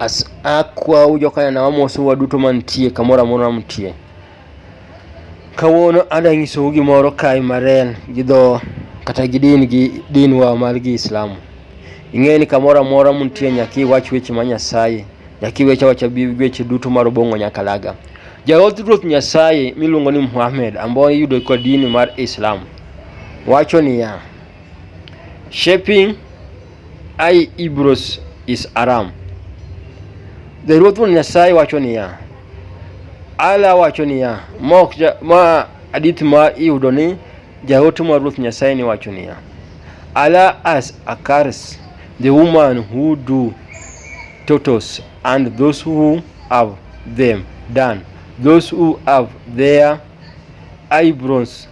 As akwau jokanana wamosu waduto mantie kamoro amora mtie. Kawuono ada nyisou gimoro kae maren gi dho kata gi din gi dinwa mar gi Islamu. Ing'e ni kamoro amora muntie nyaka iwach weche ma Nyasaye, nyaka iwech awacha bi weche duto mar obong'o nyaka laga. Jaoth Ruoth Nyasaye miluongo ni Muhammad ambaye iyudo kwa dini mar Islam wacho niya, shaping Ai Ibros is Aram. Dhairuoth wuon Nyasaye wacho niya, Ala wacho niya, mok ma adith ma iyudo ni jaote mar Ruoth Nyasaye ni wacho niya, Ala as a curse the woman who do totos and those who have them done, those who have their eyebrows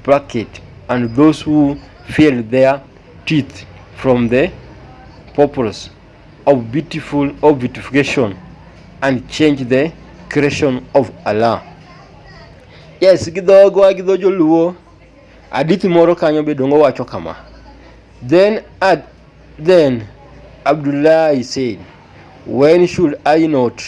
plucked and those who feel their teeth from the purpose of beautiful of beautification and change the creation of Allah. Yes, gidhogo agidho joluo adithi moro kanyo be dongo wacho kama then ad, then Abdullahi said when should I not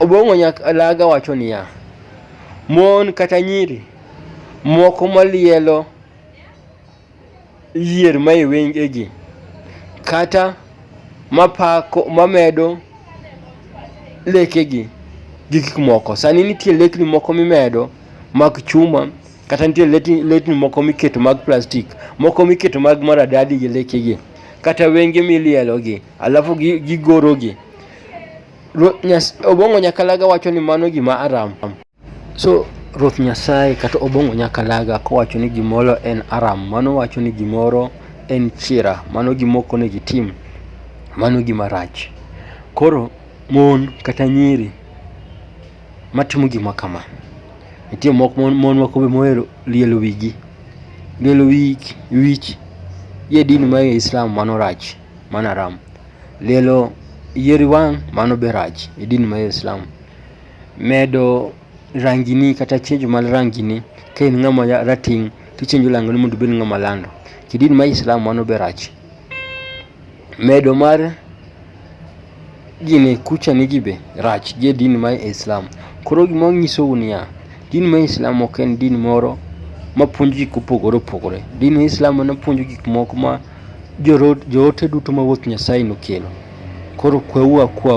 Obong'o Nyakalaga wacho niya, mon kata nyiri moko malielo yier mae wengegi kata mapako mamedo lekegi gi gik moko. Sani nitie lekni moko mimedo mag chuma kata nitie lekni moko miketo mag plastik moko miketo mag maradadi gi lekegi kata wenge milielogi alafu gigorogi. Obong'o Nyakalaga wacho ni mano gima aram. So Ruoth Nyasaye kata Obong'o Nyakalaga kowacho ni gimoro en aram, mano wacho ni gimoro en chira, mano gimok onego itim, mano gima rach. Koro mon kata nyiri matimo gima kama, nitie moko mon mon moko be mohero lielo wigi. Lielo wich gi e din mar Islam mano rach. mano haram. Lielo yier wang' mano be rach e din mar Islam. Medo rangini kata chenjo mar rangini ka in ng'ama rateng' to ichenjo rangini mondo ibed ng'ama lando. Kidin mar Islam mano be rach. Medo mar Gini kucha nigi be rach gi e din mar Islam. Koro gima wanyisou niya, din mar Islam ok en din moro mapuonjo gik mopogore opogore. Din mar Islam en opuonjo gik moko ma joote duto mawuok Nyasaye nokelo. Koro kweuru akwa